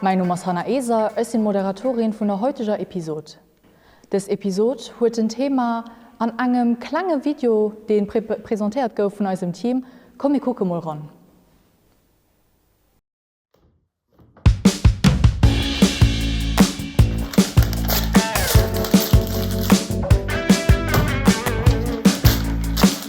Mäin Numm ass Hanna Eser, ech sinn Moderatorin vun der heuteger Episod. Dës Episod huet en Thema an engem klenge Video deen presentéiert gouf vun eisem Team. Komm mir kucke mol ran.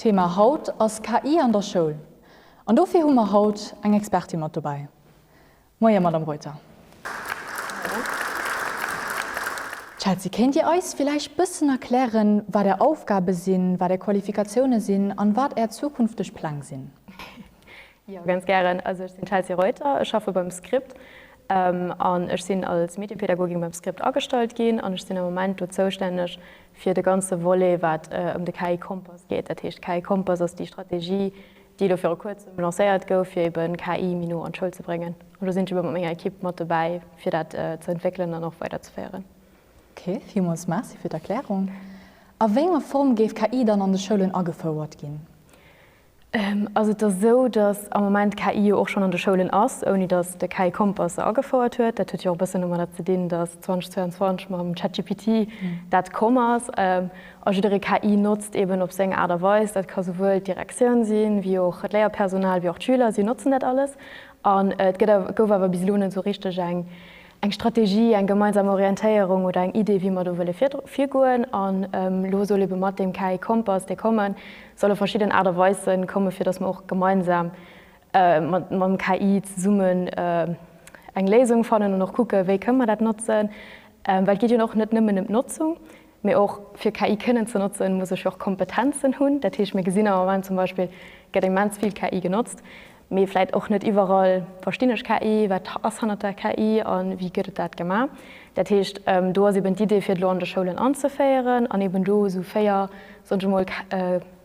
Thema haut ass KI an der Schoul an dofir hu mer haut eng Expertin mat dobäi. Moie Madame Reuter. Chelsea, kéint Dir eis villäicht bëssen erklären, wat Är Aufgabe sinn, wat Är Qualifikatioune sinn an wat Är zukünfteg Pläng sinn? Jo, ganz gären. Also ech sinn d'Chelsea Reuter, ech schaffe beim Script an ech sinn als Mediepädagogin beim Script agestallt ginn an ech sinn am Moment do zoustänneg fir de ganze Volet, wat ëm de KI-Kompass geet. Dat heescht, KI-Kompass ass déi Strategie, déi elo viru Kuerzem lancéiert gouf, fir ebe KI méi no an d'Schoul ze bréngen. An do sinn ech ebe mat menger Ekipp mat dobäi, fir dat ze entwéckelen an och weiderzeféieren. Ok, villmools Merci fir d'Erklärung. A wéi enger Form géif KI dann an de Schoulen agefouert ginn? Ass et da sou, datt am Moment KI jo och schonn an de Schoulen ass, ouni datt de KI-Kompass se agefouert huet? Dat huet jo och e bëssen domadder ze dinn, datt 2022 mam ChatGPT dat komm ass a jidderee KI notzt, eben op seng Aart a Weis. Dat ka souwuel d'Direktioun sinn, wéi och d'Léierpersonal, wéi och d'Schüler, si notzen dat alles. An et gëtt, gouf awer bis elo net esou richteg eng eng Strategie, eng gemeinsam Orientéierung oder eng Idee, wéi mer do wëlle virgoen. An elo soll eebe mat deem KI-Kompass, dee kommen, solle verschidden Aart a Weise kommen, fir dass mer och gemeinsam mat dem KI zesummen eng Léisung fannen an och kucken, wéi kënnen mer dat notzen. Well et geet jo och net nëmmen ëm d'Notzung, Mee och fir KI kënnen ze notzen, muss ech och Kompetenzen hunn. Dat heescht, mir gesinn am Moment zum Beispill gëtt immens vill KI genotzt, mee vläit och net iwwerall verstinn ech KI, wat ass hannert der KI a wéi gëtt et dat gemaach. Dat heescht, do ass eben d'Idee fir et elo an de Schoulen anzeféieren an eben do esou véier, soen ech emol,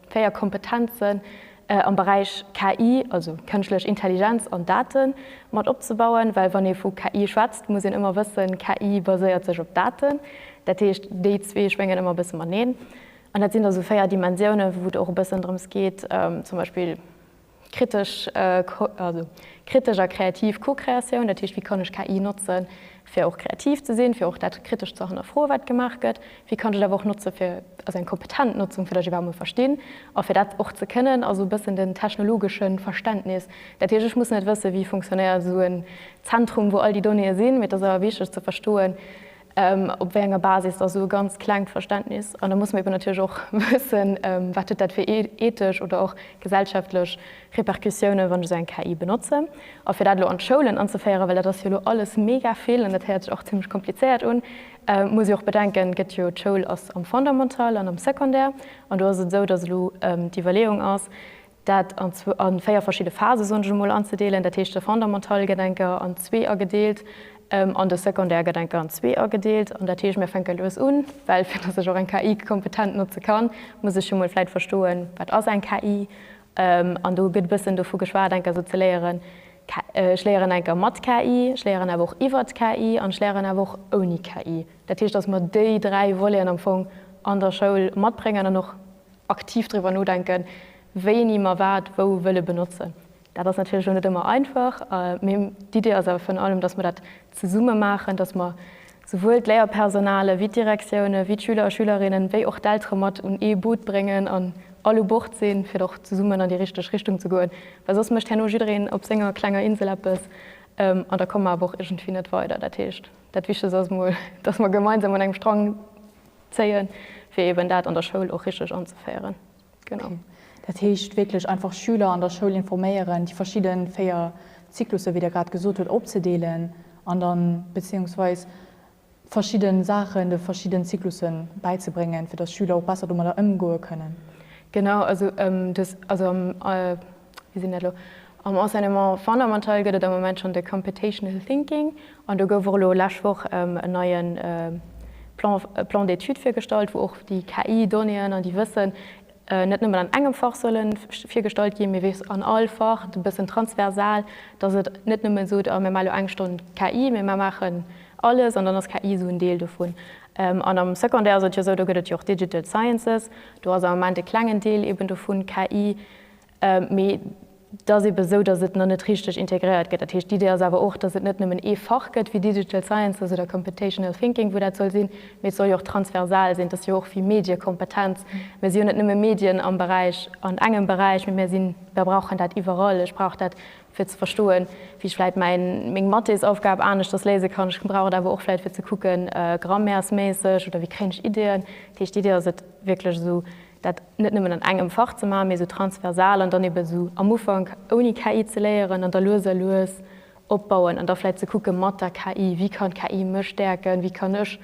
4 Kompetenzen am Beräich KI, also Kënschtlech Intelligenz an Daten, mat opzebauen, well wann ee vu KI schwätzt, muss een ëmmer wëssen, KI baséiert sech op Daten. Dat heescht, déi zwee schwéngen ëmmer e bësse mateneen. An dat sinn da sou 4 Dimensiounen, wou et och e bëssen drëms geet, zum Beispill Kritesch a kreativ Co-Kreatioun, dat heescht, wéi kann ech KI notze fir och kreativ ze sinn, fir och dat kritesch ze hannerfroen, wat gemaach gëtt. Wéi kann ech et awer och notze fir, also eng kompetent Notzung, fir datt ech iwwerhaapt mol verstinn a fir dat och ze kënnen, also e bëssen den technologesche Verständnis. Dat heescht, ech muss net wëssen, wéi funktionéiert esou en Zentrum, wou all déi Donnéeë sinn, mee et ass awer wichteg ze verstoen, Op wéi enger Basis? Also e ganz klengt Verständnis. An da muss mer eben natierlech och wëssen, wat huet dat fir ethesch oder och gesellschaftlech Repercussiounen, wann ech esou eng KI benotzen. A fir dat elo an d'Schoulen anzeféieren, well dat ass jo elo alles mega vill an dat héiert sech och zimlech komplizéiert un, muss jo och bedenken, gëtt jo, d'Schoul ass am Fondamental an am Secondaire. An do ass et esou, dass elo d'Iwwerleeung ass, dat an zwou an véier verschidde Phase, soen ech emol, anzedeelen, dat heescht de fondamental gëtt eng Kéier an zwee agedeelt an de secondaire gëtt eng Kéier an zwee agedeelt. An dat heescht, mir fänke lues un, well fir dass ech och eng KI kompetent notze kann, muss ech jo emol vläit verstoen, wat ass eng KI. An do gëtt e bëssen dovu geschwat, eng Kéier esou ze léieren, ech léieren eng Kéier mat KI, ech léieren awer och iwwert KI an ech léieren awer och ouni KI. Dat heescht, dass mer déi dräi Voleten am Fong an der Schoul matbréngen an och aktiv driwwer nodenken, wéini mer wat wou wëlle benotzen. Dat ass natierlech elo net ëmmer einfach, mee d'Idee ass awer virun allem, dass mer dat zesumme maachen, dass mer souwuel d'Léierpersonale wéi d'Direktioune wéi d'Schüler a Schülerinnen, wéi och d'Eltere mat un ee Boot bréngen an all u Bord sinn, fir och zesummen an déi richteg Richtung ze goen. Well soss mécht herno jiddereen op senger klenger Insel eppes an da komme mer awer och iergendwéi net weider. Dat heescht, dat Wichtegst ass emol, dass mer gemeinsam un engem Strang. Zéien, fir eben dat an der Schoul och richteg anzeféieren. Genau. Dat heescht wierklech einfach Schüler an der Schoul informéieren, déi verschidde véier Zyklusse, wéi Der grad gesot hutt, opzedeelen an dann, bezéiungsweis verschidde Saachen de verschidden Zyklusse bäizebréngen, fir dass Schüler och besser domadder ëmgoe kënnen. Genau, also des, also am, Wéi sinn dat elo? Am Enseignement fondamental gëtt et am Moment schonn de Computational Thinking an do gouf och elo lescht Woch en neie Plan, Plan d'études virgestallt, wou och déi KI-Donnéeën an déi Wëssen net nëmmen an engem Fach solle virgestallt ginn, mee wierklech an all Fach, e bëssen transversal, dass et net nëmmen sot, ah mir maachen elo eng Stonn KI, mee mir maachen alles an dann ass KI esou en Deel dovun. An am Secondaire ass et jo esou, do gëtt et jo och Digital Sciences, do ass am Moment e klengen Deel eeben dovun KI. Mee et ass eebe esou, datt et nach net richteg integréiert gëtt. Dat heescht, d'Idee ass awer och, datt et net nëmmen ee Fach gëtt wéi Digital Sciences oder Computational Thinking, wou dat soll sinn, mee et soll jo och transversal sinn. Et ass jo och wéi Mediekompetenz. Mir si jo net nëmme Medien am Beräich, an engem Beräich, mee mir sinn, mer brauchen dat iwwerall. Ech brauch dat, fir ze verstoen, wéi ech vläicht mäin, meng Mathesaufgab aneschters léise kann. Ech brauch et awer och vläicht, fir ze kucken, grammäersméisseg, oder wéi kréien ech Ideeën. Dat heescht, d'Idee ass et, wierklech esou dat net nëmmen an engem Fach ze maachen, mee esou transversal an dann ebe sou am Ufank ouni KI ze léieren an da lues a lues opbauen an da vläit ze kucke mat der KI, wéi kann d'KI mech stäerken, wéi kann ech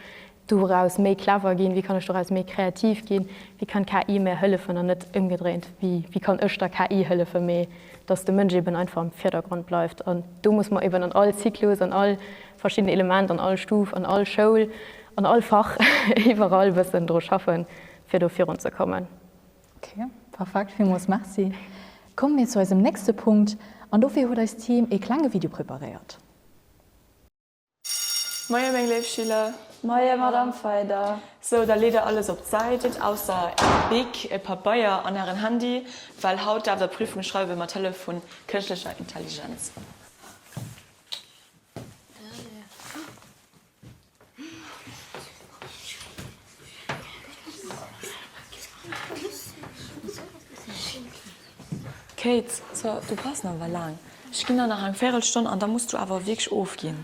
doraus méi clever ginn, wéi kann ech doraus méi kreativ ginn, wéi kann d'KI mär hëllefen an net ëmgedréint, wéi kann ech der KI hëllefen, mee datt de Mënsch eben einfach am Virdergrond bleift. An do muss mer eben an all Zyklus, an all verschidden Element, an all Stuf, an all Schoul, an all Fach, iwwerall e bëssen dru schaffen, fir do virun ze kommen. Ok, perfekt, villmools Merci. Komme mir zu eisem nächste Punkt, an dofir huet eist Team ee klenge Video preparéiert. Moie meng léif Schüler! Moie Madame Feyder! Sou, da leet der alles op d'Säit, ausser är Bic, e Pabeier an ären Handy, well haut däerft der Prüfung schreiwe mat Hëllef vun kënschtlecher Intelligenz. Kate, so, du brauchst nach awer laang. Ech ginn der nach eng Véirelstonn an da muss du awer wierklech ofginn.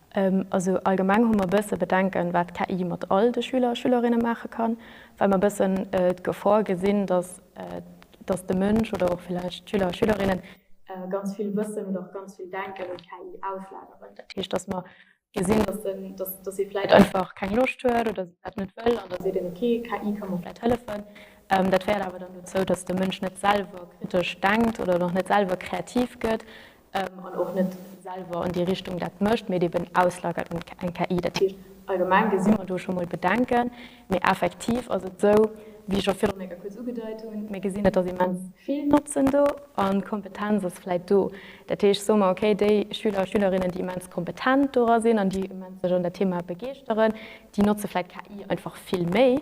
Also allgemeng hu mer e bësse Bedenken, wat KI mat all de Schüler a Schülerinne maache kann, well mer e bëssen d'Gefor gesinn, dass dass de Mënsch oder och villäicht d'Schüler a Schülerinne ganz vill Wëssen oder och ganz vill Denken un d'KI auslageren. Dat heescht, dass mer gesinn, dass den dass ee vläicht einfach keng Loscht huet oder se dat net wëll an da seet een, okay, KI ka mer vläicht hëllefen. Dat féiert awer dann dozou, dass de Mënsch net selwer kritesch denkt oder och net selwer kreativ gëtt an och net selwer an déi Richtung dat mécht, mee et eben auslagert un eng KI. Dat heescht, allgemeng gesi mer do scho mol Bedenken, mee effektiv ass et esou, wéi ech och viru menge kuerz ugedeit hunn, mir gesinn, et ass immens vill Notzen do an d'Kompetenz ass vläicht do. Dat heescht, soe mer, okay, déi Schüler a Schülerinnen, déi immens kompetent dora sinn an déi immens sech an dat Thema begeeschteren, déi notze vläicht KI einfach vill méi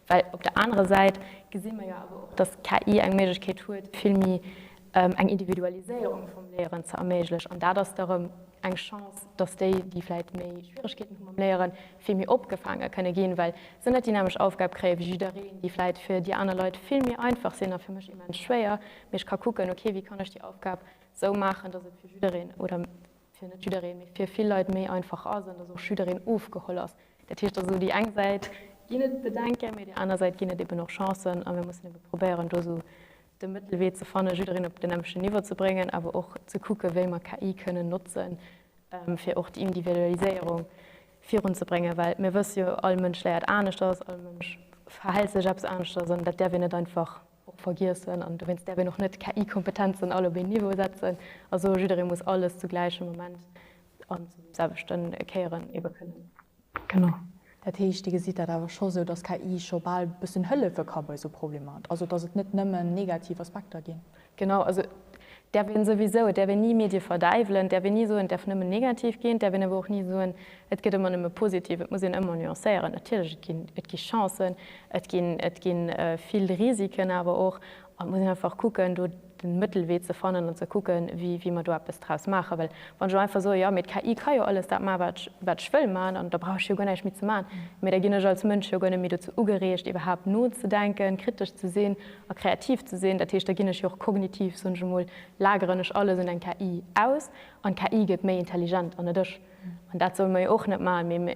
Well op der anerer Säit gesi mer jo awer och, dass KI eng Méiglechkeet huet, vill méi eng Individualiséierung vum Léieren ze erméiglech. An dat ass da rëm eng Chance, dass déi, déi vläicht méi Schwieregkeeten hu mam Léieren, vill méi opgefaange kënne ginn, well se net déi nämmeg Aufgab kréie wéi jiddereen, déi vläicht fir déi aner Leit vill méi einfach sinn a fir mech immens schwéier, mee ech ka kucken, okay, wéi kann ech déi Aufgab esou maachen, dass et fir jiddereen oder fir net jiddereen, mee fir vill Leit méi einfach ass an dass och jiddereen ofgeholl ass. Dat heescht also, déi eng Säit ginn et Bedenken, mee déi aner Säit ginn et eben och Chancen a mir mussen ebe probéieren, do esou de Mëttelwee ze fannen, jiddereen op den nämmlechten Niveau ze bréngen, awer och ze kucke wéi mer KI kënnen notzen, fir och déi Individualiséierung virunzebréngen, well mir wësse jo, all Mënsch léiert aneschters, all Mënsch verhält sech eppes aneschters an dat däerf een net einfach och vergiessen an dowéinst däerf een och net KI-Kompetenzen all op een Niveau setzen a soen, jidderee muss alles zu gläichem Moment an zum selwechten Kéieren ebe kënnen. Genau. Dat heescht, Dir gesitt dat awer scho sou, datt KI scho bal e bëssen hëllefe ka bei sou Problemer, also datt et net nëmmen negativ Aspekter ginn? Genau, also et däerf een souwisou, et däerf een ni Medie verdäiwelen, et däerf een ni soen, et däerf nëmmen negativ ginn, et däerf een awer och ni soen, Et gëtt ëmmer nëmme positiv, et muss een ëmmer nuancéieren. Natierlech, et ginn, et gi Chancen, et ginn, et gi vill Risiken awer och. An et muss een einfach kucken, do de Mëttelwee ze fannen an ze kucken, wéi, wéi mer do eppes draus maachen. Well wann ech elo einfach soe, jo, mee d'KI ka jo alles dat maachen, wat ech, wat ech wëll maachen, an da brauch ech jo guer näischt méi ze maachen. Mee da ginn ech als Mënsch jo guer net méi dozou ugereegt, iwwerhaapt nozedenken, kritesch ze sinn a kreativ ze sinn. Dat heescht, da ginn ech jo och kognitiv, soen ech emol, lageren ech alles un eng KI aus an d'KI gëtt méi intelligent an net ech. An dat solle mer jo och net maachen.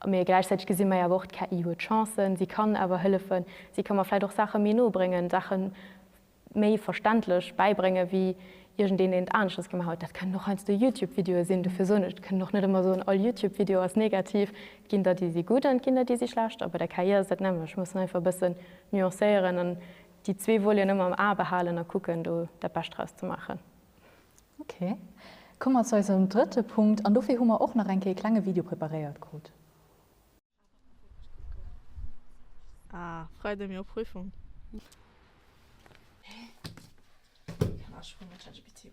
Mee gläichzäiteg gesi mer jo awer och, d'KI huet Chancen, si kann awer hëllefen, si ka mer vläicht och Saache méi no bréngen, Saache méi verständlech bäibréngen, wéi iergendeen een et aneschters gemaach huet. Dat kënnen och heiansdo Youtube-Videoe sinn. Dofir soen ech, et kënnen och net ëmmer soen, all Youtube-Video ass negativ. Et ginn der, déi si gutt an et ginn der, déi si schlecht. A bei der KI ass et dat nämmlecht. Ech muss einfach e bëssen nuancéieren an déi zwee Voleten ëmmer am A behalen a kucken, do dat Bescht draus ze maachen. Ok, komme mer zu eisem drëtte Punkt, an dofir hu mer och nach eng Kéier ee klenge Video preparéiert krut. Ah, Freide mir och Prüfung. Hä? Ech kann awer scho mat ChatGPT.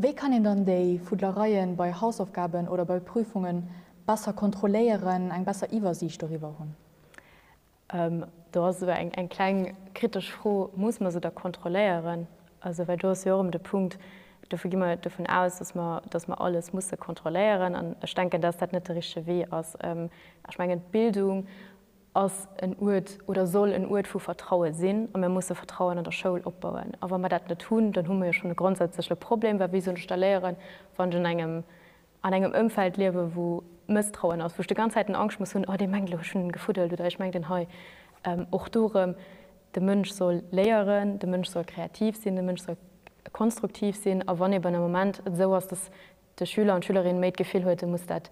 Wéi kann een dann déi Fuddlereien bei Hausaufgaben oder bei Prüfungen besser kontrolléieren, eng besser Iwwersiicht doriwwer hunn? Do ass esou eng kleng kritesch Fro, Muss mer se da kontrolléieren? Also well do ass jo erëm de Punkt, dofir gi mer dovun aus, datt mer alles musse kontrolléieren. An ech denken, datt dat net de richtege Wee ass. Ech mengen, d'Bildung ass en Uert oder soll en Uert vu Vertraue sinn a mir musse Vertrauen an der Schoul opbauen. A wa mer dat net hunn, dann hu mer jo schonn e grondsätzleche Problem, well wéi soll ech da léieren, wann ech un engem an engem Ëmfeld liewen, wou Mësstrauen ass, wou ech de ganz Zäiten Angscht muss hunn, oh dee mengt elo ech hunn en gefuddelt oder ech mengt en hei och do erëm. De Mënsch soll léieren, de Mënsch soll kreativ sinn, de Mënsch soll konstruktiv sinn a wann eben e Moment et esou ass, datt de Schüler an d'Schülerin méi d'Gefill huet e muss dat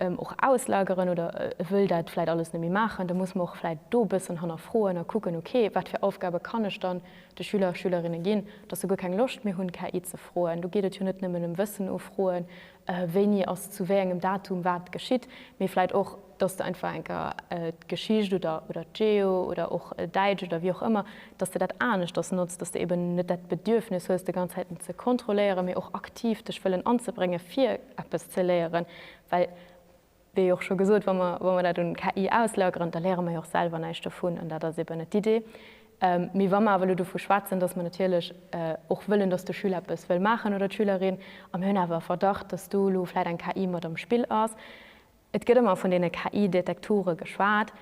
och auslageren oder e wëll dat vläit alles net méi maachen, da muss mer och vläit do e bëssen hannerfroen a kucken, ok wat fir Aufgabe kann ech dann, de Schüler a Schülerinne ginn, dass se guer keng Loscht méi hunn, KI ze froen. Do geet et jo net nëmmen ëm Wëssen ufroen, wéini ass zu wéi engem Datum wat geschitt, mee vläit och, dass de einfach eng Kéier d'Geschicht oder oder d'Geo oder och Däitsch oder wéi och ëmmer, dass de dat aneschters notzt, dass de eben net dat Bedürfnis hues, de ganz Zäiten ze kontrolléieren, mee och aktiv dech wëllen anzebréngen, fir eppes ze léieren, well. Wéi och scho gesot, wa mer, wa mer dat un KI auslageren, da léiere mer jo och selwer näischt dovun an dat ass eeben net d'Idee. Mee wa mer awer elo dovu schwätzen, dass mer natierlech och wëllen, dass de Schüler eppes wëll maachen oder d'Schülerin, a mir hunn awer e Verdacht, dass do elo vläit eng KI mat am Spill ass, et gëtt ëmmer vun deene KI-Detektoren geschwat,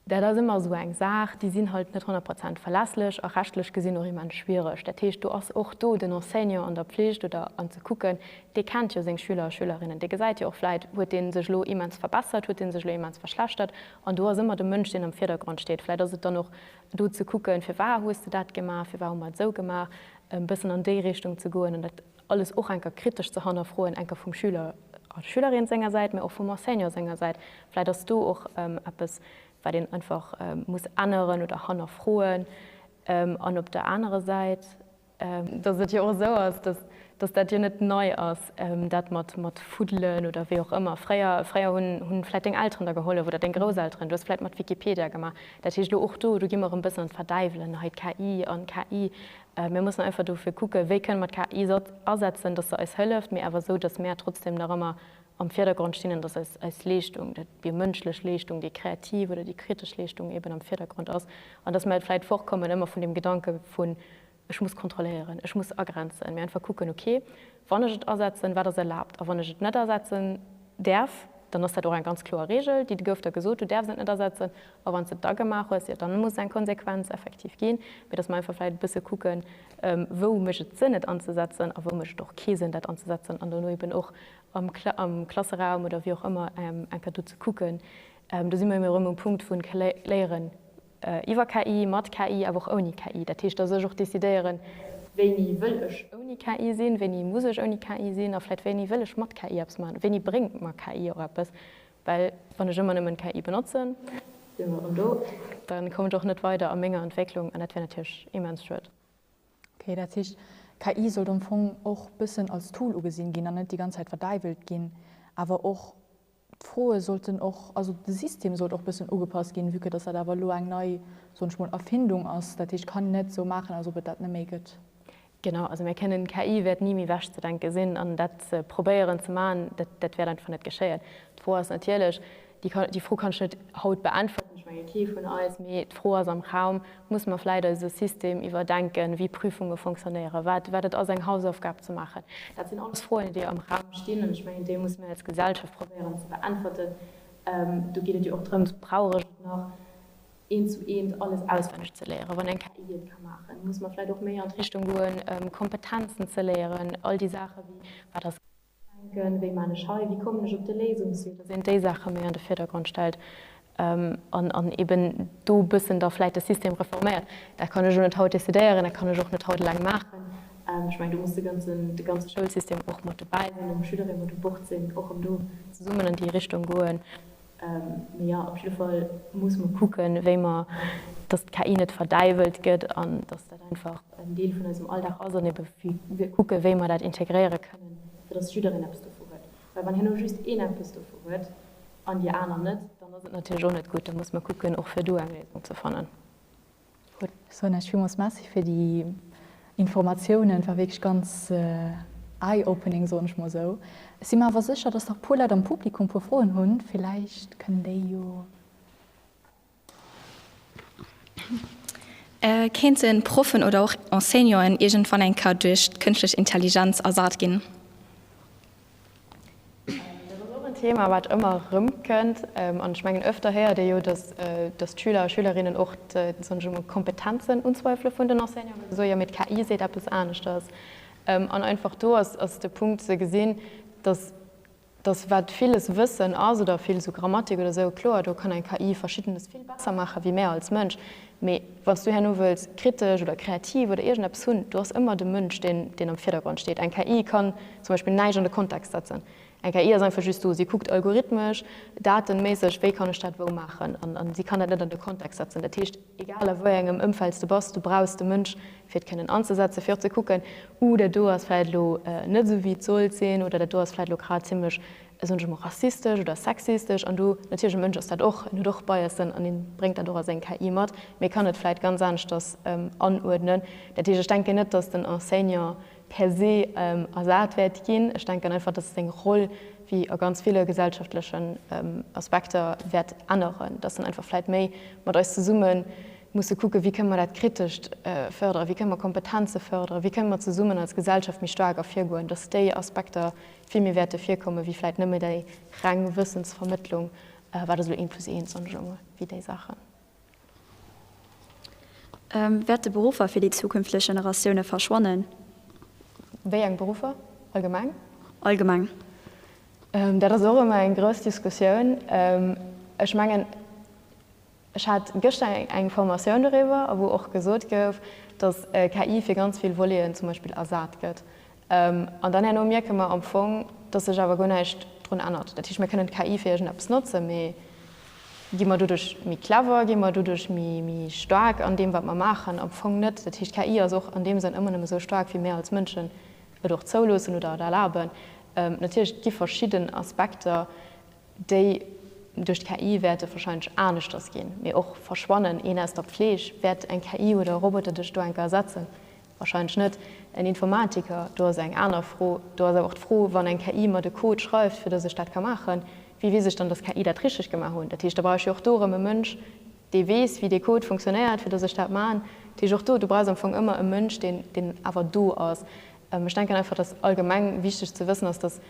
Dat ass ëmmer esou eng Saach, déi sinn halt net honnert Prozent verlässlech a rechtlech gesinn och immens schwiereg. Dat heescht, do ass och do den Enseignant an der Pflicht oder an ze kucken, dee kennt jo seng Schüler a Schülerinnen, dee gesäit jo och vläit, huet dee sech elo immens verbessert, huet dee sech elo immens verschlechtert. An do ass ëmmer de Mënsch, deen am Virdergrond steet. Vläit ass et dann och do ze kucken, firwar hues de dat gemaach, firwar hu mer et esou gemaach, e bëssen an déi Richtung ze goen. An dat alles och enker kritesch ze hannerfroen, enker vum Schüler a Schülerin senger Säit, mä och vum Enseignant senger Säit. Vläit ass do och eppes, wat een einfach muss änneren oder hannerfroen. An op der anerer Säit, datt et jo och esou ass, datt dat jo net nei ass, dat mat fuddelen oder wéi och ëmmer, fréier hunn vläit deng Elteren der gehollef oder deng Grousselteren, du hues vläit mat Wikipedia gemaach, dat heescht elo och do gi mer erëm e bëssen an d'Verdäiwelen, hei d'KI an KI, Mir mussen einfach dofir kucken, wéi kënne mer d'KI esou asetzen, datt se eis hëlleft, mee awer esou, datt mär trotzdem nach ëmmer am Virdergrond stinn an datt eis Leeschtung, dat, déi mënschlech Leeschtung, déi kreativ oder déi kritesch Leeschtung eben am Virdergrond ass an datt mär vläicht fortkommen ëmmer vun deem Gedanke vun, Ech muss kontrolléieren, ech muss agrenzen, mee einfach kucken, Okay, Wann ech et asetzen, wat ass erlaabt? A wann ech et net asetzen däerf, dann ass dat och eng ganz kloer Reegel, déi gouf der gesot, du däerfs et net asetzen. A wann s de et da gemaach hues, jo, dann muss et eng Konsequenz effektiv ginn. Mee dass mer einfach vläicht e bësse kucken, wou mécht et Sënn, et anzesetzen a wou mécht et och kee Sënn, dat anzesetzen. An dono eeben och am am Klasseraum oder wéi och ëmmer enker do ze kucken. Do si mer ëm erëm um Punkt vu Léieren. Iwwer KI, mat KI, awer och ouni KI. Dat heescht, dass ech och decidéieren, wéini wëll ech ouni KI sinn, wéini muss ech ouni KI sinn a vläicht wéini wëll ech mat KI eppes maachen, wéini bréngt mer KI och eppes. Well wann ech ëmmer nëmmen KI benotzen, da kommen ech och net weider a menger Entwécklung an dat wär natierlech immens schued. Okay, dat heescht, KI sollt am Fong och bëssen als Tool ugesinn ginn an net déi ganz Zäit verdäiwelt ginn, awer och D'Froe sollten och, also de System sollt och e bëssen ugepasst ginn, vue que dass dat awer elo eng nei, soen ech mol, Erfindung ass. Dat heescht, kann een net esou maachen, als ob et dat net méi gëtt. Genau, also mir kënnen, KI wäert ni méi wegzedenke sinn an dat ze probéieren ze maachen, dat, dat wäert einfach net geschéien. D'Fro ass natierlech, déi Fro kann ech net haut beäntwerten, ech menge kee vun eis, mee d'Fro ass am Raum, Muss mer vläit eise System iwwerdenken, wéi Prüfunge fonctionnéieren, wat wat et ass, eng Hausaufgab ze maachen? Dat sinn alles Froen, déi am Raum stinn, an ech mengen, déi muss mir als Gesellschaft probéieren ze beäntwerten. Do geet et jo och drëms, brauch ech et nach eent zu eent alles auswenneg ze léieren, wann eng KI et ka maachen? Muss mer vläit och méi an d'Richtung goen, Kompetenzen ze léieren, all déi Saachen, wéi wat ass Denken, Wéi man ech hei? Wéi kommen ech op de Léisungswee? Dass een déi Saache méi an de Virdergrond stellt an eeben do e bëssen da vläit de System reforméiert. Dat kann ech elo net haut decidéieren, dat kann ech och net haut eleng maachen. Ech mengen, do muss de ganze Schoulsystem och mat dobäi sinn, ëm Schüleree mat u Bord sinn, och ëm do zesummen an déi Richtung goen. Mee jo, op jidde Fall muss mer kucken, wéi mer, dass d'KI net verdäiwelt gëtt an dass dat einfach en Deel vun eisem Alldag ass an ebe fir kucken, wéi mer dat integréiere kënnen, fir dass jiddereen eppes dovu huet. Well wann hien elo just een eppes dovu huet an déi aner net, dann ass et natierlech och net gutt. Da muss mer kucken, och fir do eng Léisung ze fannen. Gutt, ech soen Iech villmools Merci fir déi Informatiounen. War wierklech ganz eye-opening, soen ech mol esou. Ech si mer awer sécher, dass nach e puer Leit am Publikum e puer Froen hunn. Villäicht kënnen déi jo. Kéinte Proffen oder och Enseignanten iergendwann eng Kéier duerch d'Kënschtlech Intelligenz ersat ginn? Dat ass och en Thema, wat ëmmer erëmkënnt. An ech mengen, öfter héiert ee jo, datt d'Schüler a Schülerinnen och d'Kompetenzen unzweifele vun den Enseignanten, datt se soe jo, mee d'KI seet eppes aneschters. An einfach do ass de Punkt ze gesinn, datt wat villes Wëssen ass oder vill esou Grammatik oder esou, kloer do kann eng KI Verschiddenes vill besser maachen, wéi mär als Mënsch. Mee wann s du herno wëlls kritesch oder kreativ oder iergendeppes hunn, do ass ëmmer de Mënsch deen, deen am Virdergrond steet. Eng KI kann zum Beispill näischt an de Kontext setzen. Eng KI ass einfach just do. Si kuckt algorithmesch, datenméisseg, wéi kann ech dat wou maachen. An, an si kann dat net an de Kontext setzen. Dat heescht, egal a wou engem Ëmfeld s de bass, du brauchs de Mënsch, fir et kënnen anzesetzen, fir och ze kucken, Uh, dat do ass vläit elo net esou wéi et sollt sinn oder dat do ass vläit elo grad zimlech Ech hunn ech emol rassistesch oder sexistesch an du, natierlech, e Mënsch ass dat och, en huet och Biasen an en bréngt dat och a seng KI mat, mee e kann et vläit ganz aneschters anuerdnen. Dat heescht, ech denken net, datt den Enseignant per se ersat wäert ginn. Ech denken einfach, datt seng Roll, wéi a ganz ville gesellschaftlechen Aspekter, wäert änneren, datt en einfach vläit méi mat eis zesumme musse kucken, wéi kënne mer dat Kritescht fërderen, wéi kënne mer Kompetenze fërderen, wéi kënne mer zesummen als Gesellschaft méi staark ervirgoen, datt déi Aspekter vill méi wäerte virkomme wéi vläit nëmme déi reng Wëssensvermëttlung, wat ass elo eent plus eent, soen ech elo emol, wéi déi Saachen. Wäerte Beruffer fir déi zukünftlech Generatioune verschwannen? Wéi eng Beruffer? Allgemeng? Allgemeng. Dat ass och ëmmer eng grouss Diskussioun. Ech mengen. Ech hat gëschter eng Formatioun doriwwer, wou och gesot gouf, datt KI fir ganz vill Voleten zum Beispill ersat gëtt. An dann herno mierke mer am Fong, datt sech awer guer näischt drun ännert. Dat heescht, mir kënnen d'KI fir iergendeppes notzen, mee gi mer doduerch méi clever, gi mer doduerch méi staark an deem, wat mer maachen? Am Fong net. Dat heescht, d'KI ass och an deem Sënn ëmmer nëmme esou staark, wéi mir als Mënschen et och zouloossen oder et erlaben. Natierlech, et gi verschidden Aspekter, déi duerch d'KI wäerte wahrscheinlech aneschters ginn, mee och verschwannen, een aus der Pfleeg, wäert eng KI oder e Roboter dech do enker ersetzen? Wahrscheinlech net. En Informatiker, do ass eng aner Fro. Do ass awer och d'Fro, wann eng KI mer de Code schreift, fir dass ech dat ka maachen, wéi weess ech dann, dass d'KI dat richteg gemaach hunn? Dat heescht, da brauch ech jo och do erëm e Mënsch, dee weess, wéi dee Code funktionéiert, fir dass ech dat maachen. Dat heescht, och do, du brauchs am Fong ëmmer e Mënsch, deen awer do ass. Ech denken einfach, dass allgemeng wichteg ze wëssen ass, dass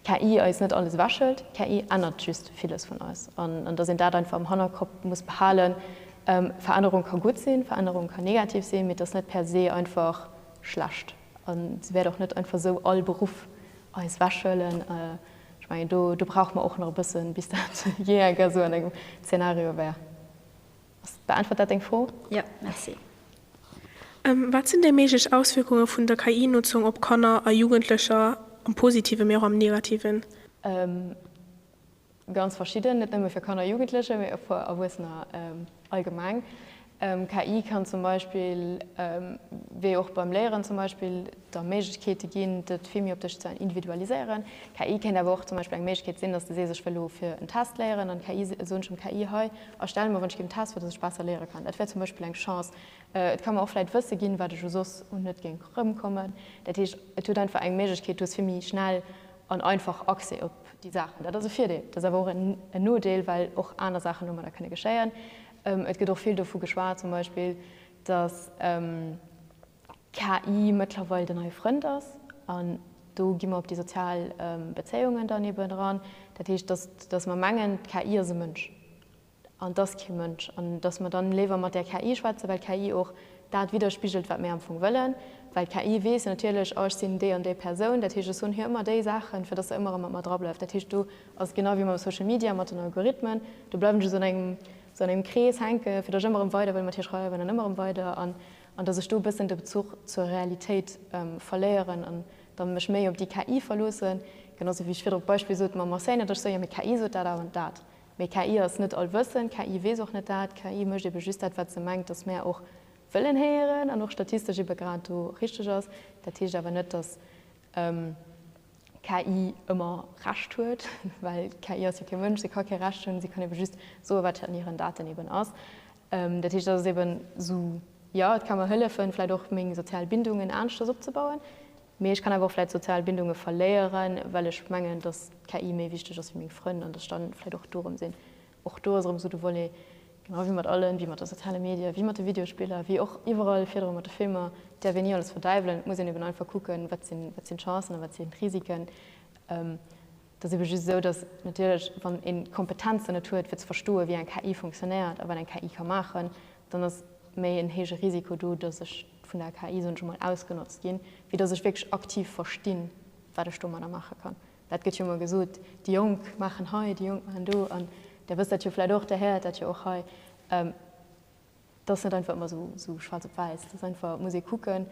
KI eis net alles ewechhëlt, KI ännert just villes vun eis. An datt een dat einfach am Hannerkopp muss behalen, Verännerung ka gutt sinn, Verännerung ka negativ sinn, mee et ass net per se einfach schlecht. An se wäert och net einfach esou all Beruff eis ewechhëlen. Ech mengen do brauche mer och nach e bëssen, bis dat jee enker esou an engem Zeenario wär. Beäntwert dat deng Fro? Jo, merci. Wat sinn déi méiglech Auswierkunge vun der KI-Notzung op Kanner a Jugendlecher, am Positiven, mee och am Negativen? Ganz verschidden, net nëmme fir Kanner a Jugendlecher, mee och fir Erwuessener allgemeng. KI kann zum Beispill, wéi och beim Léieren zum Beispill, der Méiglechkeete ginn, dat vill méi op dech ze individualiséieren. KI kéint awer och zum Beispill eng Méiglechkeet sinn, dass de sees, ech wëll elo fir en Test léieren, an d'KI, soen ech dem KI, hei, A stelle mer, wann ech géing Test, fir datt ech besser léiere kann. Dat wär zum Beispill eng Chance. Et ka mer och vläit Wësse ginn, wat ech u soss un net géing erëmkommen. Dat heescht, et huet einfach eng Méiglechkeet, du hues vill méi schnell an einfach Accès op déi Saachen. Dat ass e Virdeel. Et ass awer och en Nodeel, well och aner Saachen domadder kënne geschéien. Et gëtt och vill dovu geschwat zum Beispill, datt. KI mëttlerweil den neie Frënd ass. An do gi mer op déi sozial Bezéiungen dann eben eran. Dat heescht, dass, dass mer mengen, d'KI ass e Mënsch an et ass kee Mënsch. An dass mer dann léiwer mat där KI schwätzen, well d'KI och dat widderspigelt, wat mir am Fong wëllen. Well d'KI weess natierlech, oh, ech sinn déi an déi Persoun, dat heescht, ech soen hir ëmmer déi Saachen, fir dass se ëmmer erëm mat mer dra bleift. Dat heescht, do ass et genau wéi mam Social Media, mat den Algorithmen, do bleift een just an engem, sou an engem Krees hänken, fir dass ech ëmmer erëm weider wëll mat hir schreiwen an ëmmer erëm weider. An dass ech do e bëssen de Bezuch zur Realitéit verléieren an da mech méi op déi KI verloossen, genau sou wéi ech virdru d'Beispill sot mam Enseigne, dass ech soe, jo mee d'KI sot dat an dat. Mee KI ass net allwëssend, KI weess och net dat, KI mécht ebe just dat, wat se mengt, dass mär och wëllen héieren an och statistesch ebe grad do richteg ass. Dat heescht awer net, dass. KI ëmmer Recht huet, well d'KI ass jo kee Mënsch, se ka kee Recht hunn, se kann eebe just soe wat an hiren Daten eeben ass. Dat heescht, dass et eeben esou, jo et ka mer hëllefen vläicht och meng sozial Bindungen aneschters opzebauën, mee ech kann awer och vläicht sozial Bindunge verléieren, well ech mengen, dass d'KI méi wichteg ass wéi meng Frënn an dass ech dann vläicht och dorëm sinn Och do ass erëm esou de Volet, genau wéi mat allem, wéi mat de soziale Medie, wéi mat de Videospiller, wéi och iwwerall virdru mat de Filmer, et däerf een ni alles verdäiwelen. Et muss een eben einfach kucken, wat sinn d'Chancen a wat sinn d'Risiken. Et ass ebe just esou, datt natierlech, wann ee Kompetenzen net huet, fir ze verstoen, wéi eng KI funktionéiert a wat eng KI ka maachen, dann ass méi en héije Risiko do, datt ech vun der KI, soen ech emol, ausgenotzt ginn, wéi datt ech wierklech aktiv verstinn, wat ech domadder maache kann. Dat gëtt jo emmer gesot, déi Jonk maachen hei, déi Jonk maachen do. An Där wësst dat jo vläicht och, Där héiert dat jo och hei. Dat ass net einfach ëmmer esou schwaarz op wäiss. Dat ass einfach, et muss ee kucken.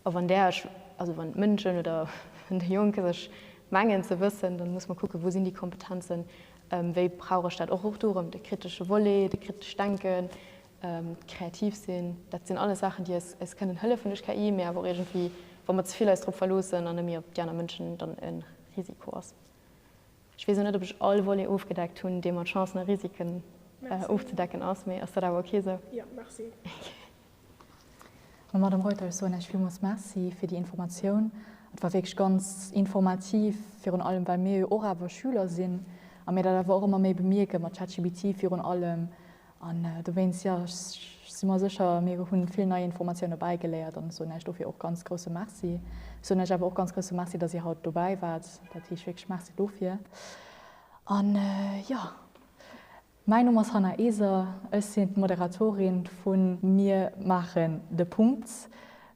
A wann Där Iech, also wann d'Mënschen oder wann déi Jonk sech mengen ze wëssen, da muss mer kucken, wou sinn déi Kompetenzen, wéi brauch ech dat och. Och do erëm de kritesche Volet, de kritescht Denken, Kreativ sinn, dat sinn alles Saachen, déi eis kënnen hëllefen duerch KI, mee awer och iergendwéi, wa mer ze vill eis drop verloossen an net méi op déi aner Mënschen, dann e Risiko ass. Ech weess elo net, ob ech all Volet ofgedeckt hunn, dee mat Chancen a Risiken ofzedecken ass, mee ass dat awer ok esou? Jo, merci. Madamm Reuter, ech soen Iech villmools Merci fir déi Informatioun. Et war wierklech ganz informativ, virun allem well mir jo och awer Schüler sinn a mir dat awer och ëmmer méi bemierken, mat ChatGPT virun allem, An dowéinst, jo, ech si mer sécher, mir hu vill nei Informatioune bäigeléiert an ech soen Äech dofir och ganz grousse Merci. Ech soen Äech awer och ganz grousse Merci, datt Dir haut dobäi waart. Dat heescht wierklech Merci dofir. An, jo, mäin Numm ass Hanna Eser, ech sinn d'Moderatorin vu Mir maachen de Punkt.